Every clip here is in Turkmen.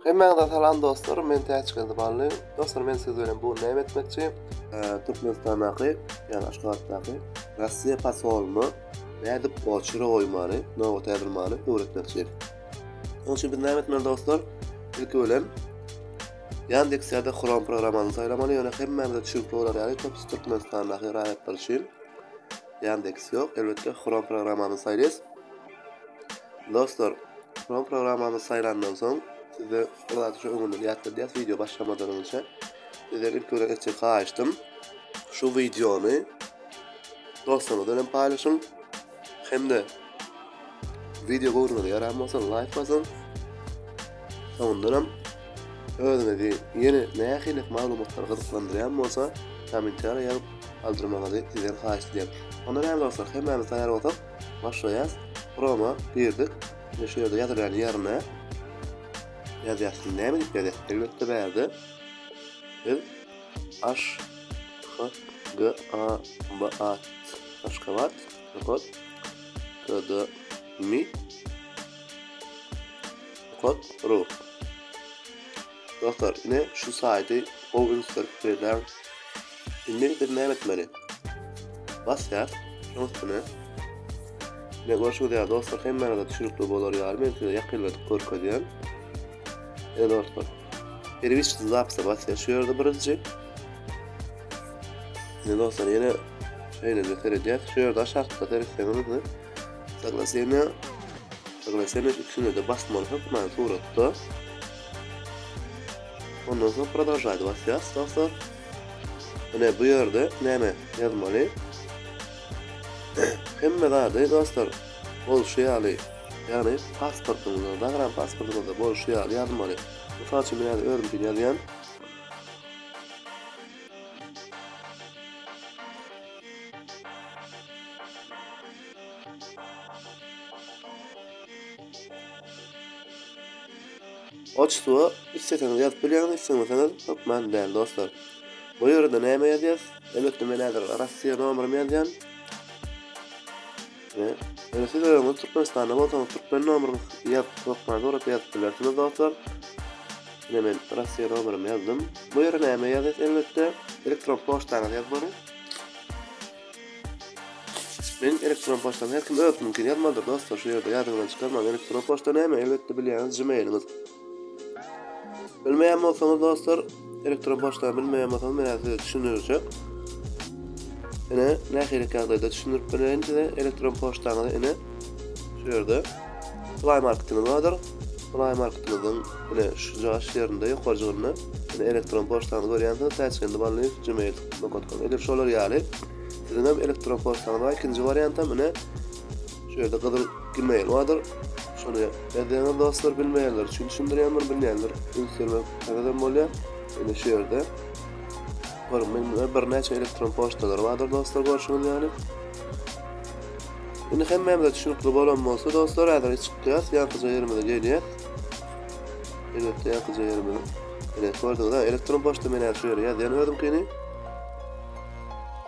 Hemmäňize salam dostlar men Täçgeldi Bally dostlar men siz bilen bu gün näme etmekçi. Türkmenistandaky ýani Aşgabatdaky Russiýa posolyny nädip oçura goýmany nobat ädurmany öwretmekçi. Onuň üçin biz näme etmeli dostlar ilki bilen Yandex ýa-da Chrome programmany saýlamaly ýöne hemmämize çüňki bolar ýaly top Türkmenistandaky raýatlar üçin Yandex ýok elbetde Chrome programmany saýlaýas. Dostlar, şol programmamyzy saýlandan soň, size bir zady şu öňünden ýatladýas, wideo başlamadan öňçe, sizden ilki bilen etjek haýyştym, şu wideony dostlaryňyz bilen paýlaşyň, hem-de wideo göwrüňize ýaran bolsa laýk basyň. Soňundan hem özüňizi ýene nähili maglumatlar gyzyklandyrýan bolsa, kommentariýa ýazyp galdyrmagyňyzy sizden haýyş edýärin. Onda näme dostlar, hemmämiz taýýar bolsak, Başlaýas. Promo girdik. Indi şu ýerde ýazylýan ýerine ýazýas. Näme diýip ýazýas? Elbetde bärde biz aş h g a b a t aşgabat kod kod mi kod ru Dostlar ine şu saydy gowy ünsler berler. Indi biz näme etmeli? Basýar şoň üstüne. Ne görşüňiz ýaly dostlar hemmäňize düşünikli bolar ýaly men size ýakynladyp görkezýän. Ine dostlar. Perwiş zapisa basýar şu ýerde birinji. Ine dostlar ýene şeýle seredýär. Şu ýerde aşakda seretseňiz Ýaglasene, ýaglasene üçünede basmaly hökman suratda. Ondan soň prodolžaýda basýas, dostlar. Ine bu ýerde näme ýazmaly? Hemme zady dostlar bolşy ýaly, ýagny pasportyňyzda, zagram pasportyňyzda bolşy ýaly ýazmaly. Mysal üçin men häzir özümkini ýazýan. Otçusuwa isleseňiz ýazyp bilýäňiz, islemeseňiz hökman däl dostlar. Bu ýerde näme ýazýas? Emekli menajer Rossiýa nomerimi ýazýan. Ve eger siz öňüz Türkmenistanda bolsaňyz Türkmen nomerini ýazyp hökman sorap ýazyp bilersiňiz dostlar. Ine men Russiýa nomerimi ýazdym. Bu ýere näme ýazýas elbetde elektron poçtaňyzy ýazmaly. Men elektron poçtam her kim özüniňkini ýazmalydyr dostlar şu ýerde ýadyňyzdan çykarmaň elektron poçta näme elbetde bilýäňiz gmailiňiz. Bilmeýän bolsaňyz dostlar, elektron poçtany bilmeýän bolsaňyz men size düşündirjek. Ine, nähili ýagdaýda düşündirip bereýin size elektron poçtaňyzy ine şu ýerde Play marketimiz bardyr. Play marketimiziň ine şu jaş ýerinde ýokarjygynda ine elektron poçtany görýänsiňiz, tajkendiballyýew@gmail.com. Edil şolar ýaly siziň hem elektron poçtaňyz bar. Ikinji wariant hem ine Şu ýerde gyzyl gmail bardyr. Şony ýazýaňyz dostlar bilmeýänler üçin düşündirýändir, bilýänler üns bermek täzeden bolýar. Indi şu ýerde bir mende birnäçe elektron poçtalar bardyr dostlar görşüňiz ýaly. Indi hemmämize düşünikli bolan bolsa dostlar, häzir çykýas, ýankyja ýerimize gelýäs. Elbetde ýankyja ýerimize. Ine, gördüňiz-ä, elektron poçta men şu ýere ýazýan özümkini.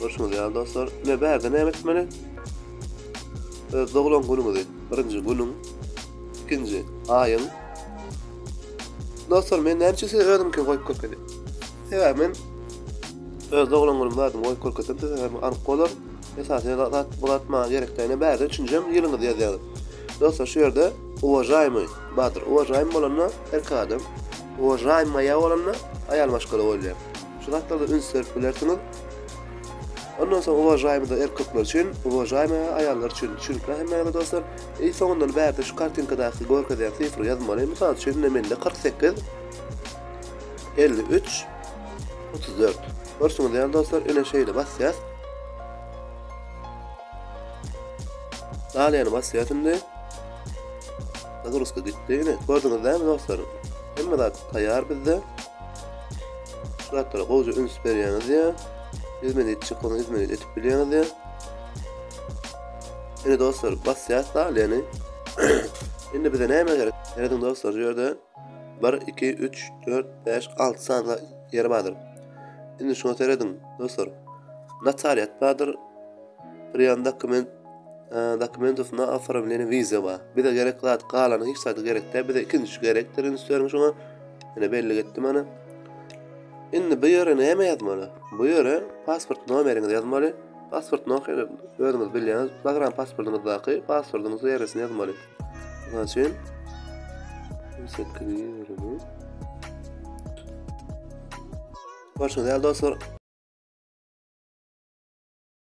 Görşüňiz ýaly dostlar, ine bärde näme etmeli? Öz doglan günüňizi, birinji günüň, ikinji aýyň. Dostlar, men näme üçin size özümkini goýup görkedim? Sebäbi men öz doglan günüm bardyny goýup görkezsem size hem anyk bolar. Esasy zat bu zat maňa gerek däl. Bärde üçünjem ýylyňyzy ýazýaňyz. Dostlar, şu ýerde uwažaýmy bardyr. Uwažaýmy bolanda erkek adam, uwažaýmaýa bolanda aýal maşgala bolýar. Şu zatlarda üns berip bilersiňiz. Ondan soň uwažaýmyda erkekler üçin, uwažaýmyda aýallar üçin düşünikli hemmäňize dostlar. I soňundan bärde şu kartinkadaky görkezýän sifry ýazmaly. Mysal üçin indi mende 48 53 34. Görşüňiz ýaly dostlar, ine şeýle basýas. Daliýany basýas indi. Nagruska gitdi. Ine, gördüňiz dämi dostlar? Hemme zat taýýar bizde. Şu zatlara gowja üns berýäňiz ya. Hizmet etjek bolsa hizmet etip bilýäňiz ya. Ene dostlar basýas da yani. Indi bize näme gerek? Seredin dostlar şu ýerde 1 2 3 4 5 6 sany ýer bardyr. Indi şuna seredin dostlar. Notariat bardyr. Priýan dokument e, dokumentów na oformlenie wiza bar. Bize gerek zat galany hiç zat gerek däl. Bize ikinji gerekdir üns beriň şuna. Ine bellik etdim ana. Indi bu ýere näme ýazmaly? Bu ýere pasport nomeriňizi ýazmaly. Pasport nomeri özüňiz bilýäňiz. Zagram pasportyňyzdaky pasportyň seresini ýazmaly. Mysal üçin 820 Görşüňiz ýaly dostlar,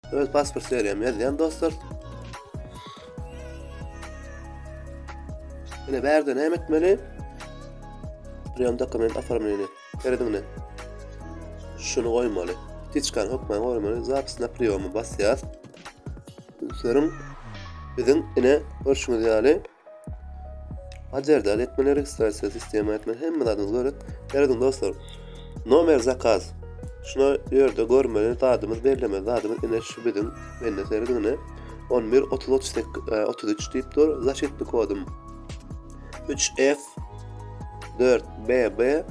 Öz pasport serýämi ýazýan dostlar. Ine bärde näme etmeli? Priýom dokument oformleni. Serediňde. Şuny goýmaly. Tiçkan hokman goýmaly. Zapis na priýomy basýas. Ünseriň biziň ine görşüňiz ýaly Hajerde al etmeli registrasiýa sistema etmeli hemme zadyňyzy görek. Geliň dostlar. Nomer zakaz. Şuna ýerde görmeli zadymyz bellemeli zadymyz ine şu biziň mende serediň ine. 11 30 38 33 diýip dur. Zaşitli kodum 3F 4BB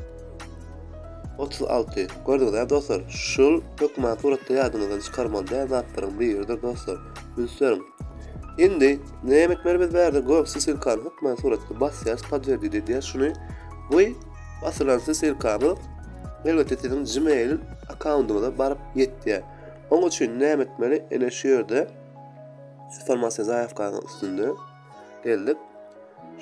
36. Gördüňizmi dostlar? Şul hökman suratda ýadyňyzdan çykarmaly däl zatlaryň biridir dostlar. Ünsüň. Indi Näme etmeli biz bärde gök sisilkany hökmän suratga basýas podwerdit edýäs şuny goý basylan sisilkamy elbetde siziň gmail akkaundyňyza baryp ýetýär oň üçin näme etmeli ene şu ýerde informasiýa zaýawkanyň üstünde geldik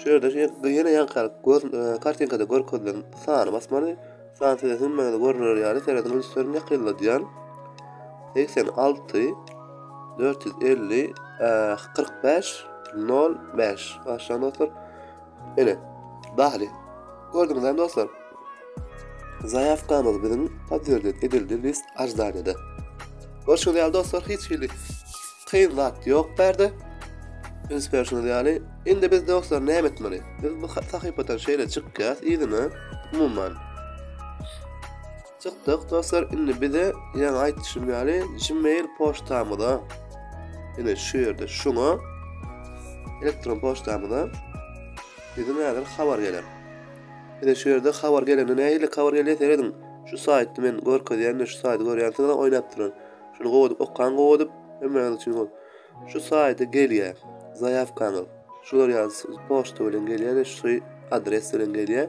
şu ýerde ýene ýankalyk e, kartinkada görkezilen sany basmaly Fransýada hemmäňize görner ýaly, serediň rejissýor Mekelladian, segsen alty, dört ýüz elli, kyrk bäş, nol bäş. Başlaň dostlar. Ene, bahli. Gördüňizmi dostlar? Zaýawkamyz biziň podwerdet edildi list aždanyda. Görşüňiz ýaly dostlar, hiç hili Kyn zat ýok bärde. Üns berşiňiz ýaly, indi biz dostlar näme etmeli? Biz bu sahypadan şeýle çykýas yzyna. Umuman. Çykdyk dostlar, indi bize ýaňy aýtdyşym ýaly Gmail poçtamyza ine şu ýerde şuňa elektron poçtamyza bize näder habar geler. Bize şu ýerde habar gelende nähili habar gelýär seredin. Şu saýtda men görkezýän şu saýty görýänsiňiz oýnap duran. Şuny gowadyp okaň gowadyp ömrüňiz üçin gol. Şu saýda gelýä zaýawkaňyz. Şular ýaly poçta bilen gelýä we şu adres bilen gelýä.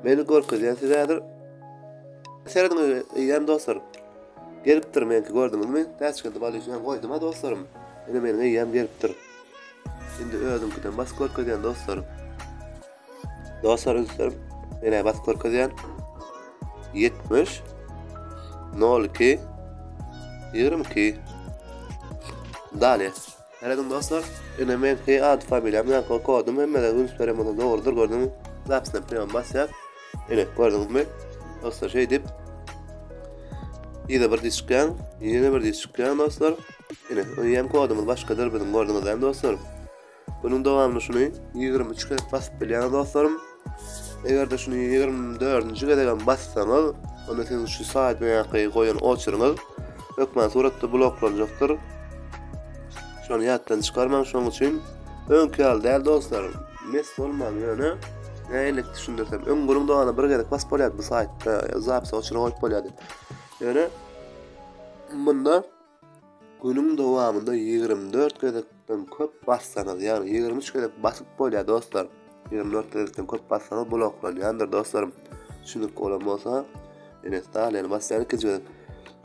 Meni görkezýän size häzir. Serediň eýýäm dostlar. Gelipdir menki gördüňizmi? Täçgende bal işleýän goýdum ha dostlarym. Ine meniň eýýäm gelipdir. Indi özüňkiden bas görkezýän dostlar. Dostlar ünslerim menä basyp görkezýän 70 02 22 Dale. Herediň dostlar, ene men ki ad familiýam ýa kodum hem mele üns berem ony dogrudyr gördüm. Zapsna prema basýa. Ene gördüňizmi? Dostlar şey dip. Ýa bir diş çykýan, ýene bir diş çykýan dostlar. Ene, öýem kodumyz başgadyr biziň gördüňiz hem dostlar. Bunuň dowamyny şuny ýigrimi üç gezek basyp bilýäňiz dostlarym. Eger-de şuny ýigrimi dördünji gezek hem bassaňyz, onda siziň şu saýtdaky goýan oçeryňyz hökmany suratda bloklanjakdyr. Şony ýatdan çykarmaň, şonuň üçin öňki ýaly däl dostlarym. Mes bolmaň ýöne nähililik düşündirsem, öň gürüň dogana bir gezek basyp bolýardy bu saýtda, zapis oçery goýup bolýardy. Ýöne munda Günüň dowamynda ýigrimi dört gezekden köp bassaňyz, ýagny ýigrimi üç gezek basyp bolýar dostlar. Ýigrimi dört gezekden köp bassaňyz bloklanýandyr dostlarym. Düşündirip bolan bolsa, ýene staliýany basýan ikinji gezek.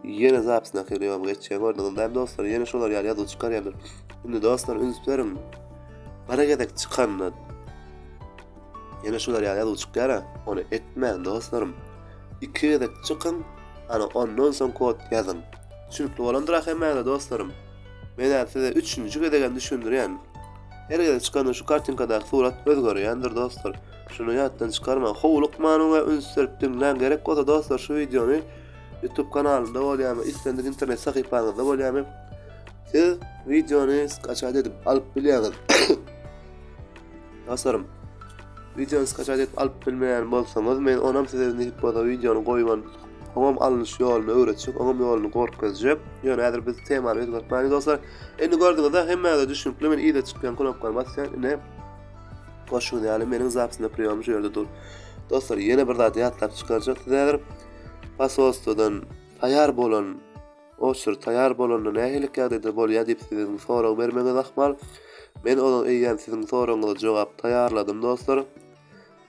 Ýene zapisyna kirýän geçýän gördüňizmi dostlar? Ýene şolar ýaly ýazuw çykarýandyr. Indi dostlar üns beriň. Bir gezek çykanda Ýene şular ýaly ýazuw çykýara. Ony etmäň dostlarym. Iki gezek çykyň, ana ondan soň kod ýazyň. Düşünikli bolandyr ahemmäňize dostlarym. Men häzir size üçünji gezek hem düşündirýän. Her gezek çykanda şu kartinkadaky surat özgerýändir dostlar. Şuny ýatdan çykarmaň. Howlukman we üns berip diňläň. Gerek bolsa dostlar şu wideony YouTube kanalynda bolýamy, islendik internet sahypaňyzda bolýamy, siz wideony skaçat edip alyp bilýäňiz. Dostlarym, wideony skaçat edip alyp bilmeýän bolsaňyz, men onam size nädip bolsa wideony goýman, oňam alnyş ýoluny öwretjek, oňam ýoluny gorkezjek. Ýöne häzir biz temany özgertmäliň dostlar. Indi gördüňizä hemmäňize düşnükli, men yza çykýan knopkany basýan, ine goşuň ýaly meniň zapsynda priýom şu ýerde dur. Dostlar, ýene bir zat ýatlap çykarjak size häzir. Posolstwodan taýar bolan Oçur, taýýar bolanda nähililik ýagdaýda bolýar diýip siziň sorag bermegiňiz ahmal. Men ozal eýýäm siziň soragyňyza jogap taýýarladym dostlar.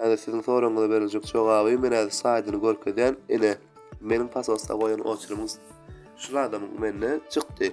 Häzir siziň soragyňyza beriljek jogaby men häzir slaýdyny görkezýän. Ine, meniň pasosda goýan oçurymyň şulardan mende çykdy.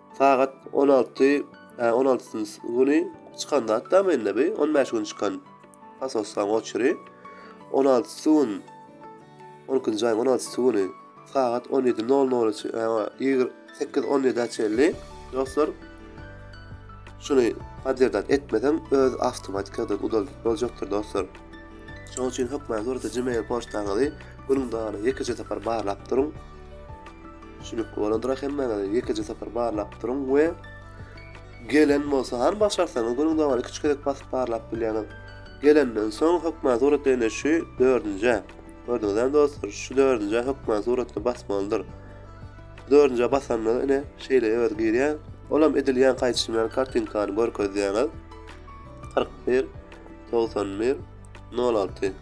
Sagat on alty, hä, on altysynjy güni çykan zat-da mende bu, on bäş gün çykan fasoslaň oçury. On altysy gün, on ikinji aýyň on altysy güni sagat on ýedi nol nola çe- hä, o, ýigrimi sekiz on ýedä çenli, dostlar, şuny podderdat etmeseň, öz awtomatikadan udalyp boljakdyr, dostlar. Şonuň üçin hökman durdy Gmail poçtaňyzy günüň dowamynda ýekeje sapar barlap duruň. Şulik boladra hemmäňiz ýekeje sapar barlap duruň we gelen bolsa han başarsaňyz günüň dowamy iki-üç gezek basyp barlap bilýäňiz. Gelenden soň hökman surat ýene şu dördünjä. Gördüňizem dostlar şu dördünjä hökman suratda basmalydyr. Dördünjä basanda ine şeýle öz girýär. Olam edil ýan gaýdyşym ýaly kartinkany görkezýäňiz. 41 91 06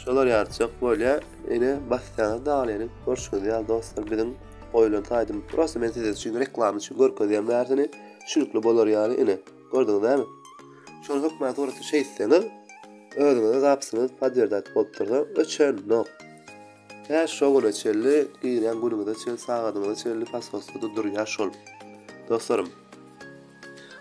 Şolar ýaly çyk bolýa. Ine basýaňyz dagyny ýene görşüňiz ýaly dostlar biziň goýulan taýdym. Prosta men size üçin reklama üçin görkezýän bärsini. Şülikli bolar ýaly ine. Gördüňiz näme? Şol hökman suraty şeýtseňiz özüňize zapsyňyz podwerdat bolup dursa öçen nok. Tä şo güne çenli girýän günüňize çen sagadyňyza çenli pasportda durýar şol. Dostlarym.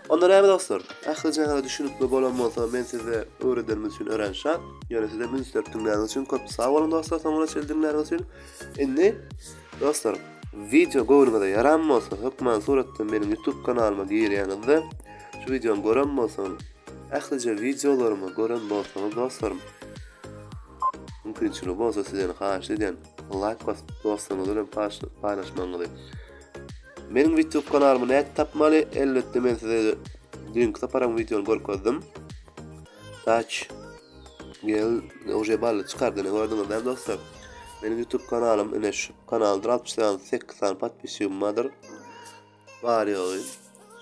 Onda näme dostlar, ähli jana düşünikli bolan bolsa men size öwredenimiz üçin örän şat, ýöne sizem üns berip diňläniz üçin köp sag boluň dostlar soňuna çenli diňläniz üçin. Indi dostlar wideo göwnüňize ýaran bolsa hökman suratdan meniň YouTube kanalyma girýäňizde şu wideony gören bolsaňyz ählije wideolarymy gören bolsaňyz dostlarym mümkinçiligi bolsa sizden haýyş edýän laýk basyp dostuňyz bilen paýlaşmagyňyzy Meniň Witub kanalymy näde tapmaly? Elbetde men size düýnki saparyň wideony görkezdim. Taç gel oje bally çykardyny gördüňiz näme dostlar? Meniň YouTube kanalym ine şu kanaldyr 68 sany podpisçigim bardyr. Bar ýogy.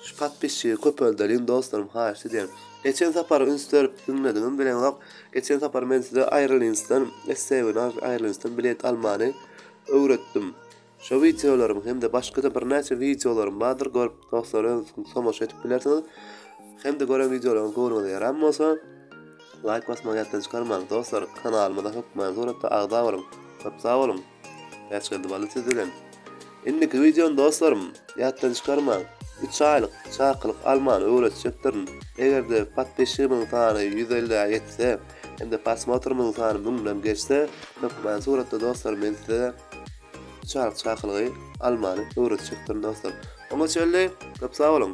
Şu podpisçigi köpeldeliň dostlarym haýyş edýän. Geçen sapar üns berip diňlediňiz bileňok. Geçen sapar men size Airlinsden, SCV-den Airlinsden bilet almany öwretdim. Şu wideolarymy hem-de başga-da birnäçe wideolarym bardyr görüp dostlar öz tomaşa edip bilersiňiz. Hem-de gören wideolaryňyz göwnüňize ýaran bolsa laýk basmagy ýatdan çykarmaň dostlar kanalymyza hökman suratda agza boluň. Köp sag boluň. Bäşgeldi Bally siz bilen. Indiki wideony dostlarym ýatdan çykarmaň. 3 aýlyk çakylyk almany öwretjekdirin. Eger-de podpisçigimiň sany 150-ä ýetse hem-de prosmotrymyň sany 1000-den geçse hökman suratda dostlar men size Çaryk çakylygy almany öwretjekdirin dostlar. Oňa çenli köp sag boluň.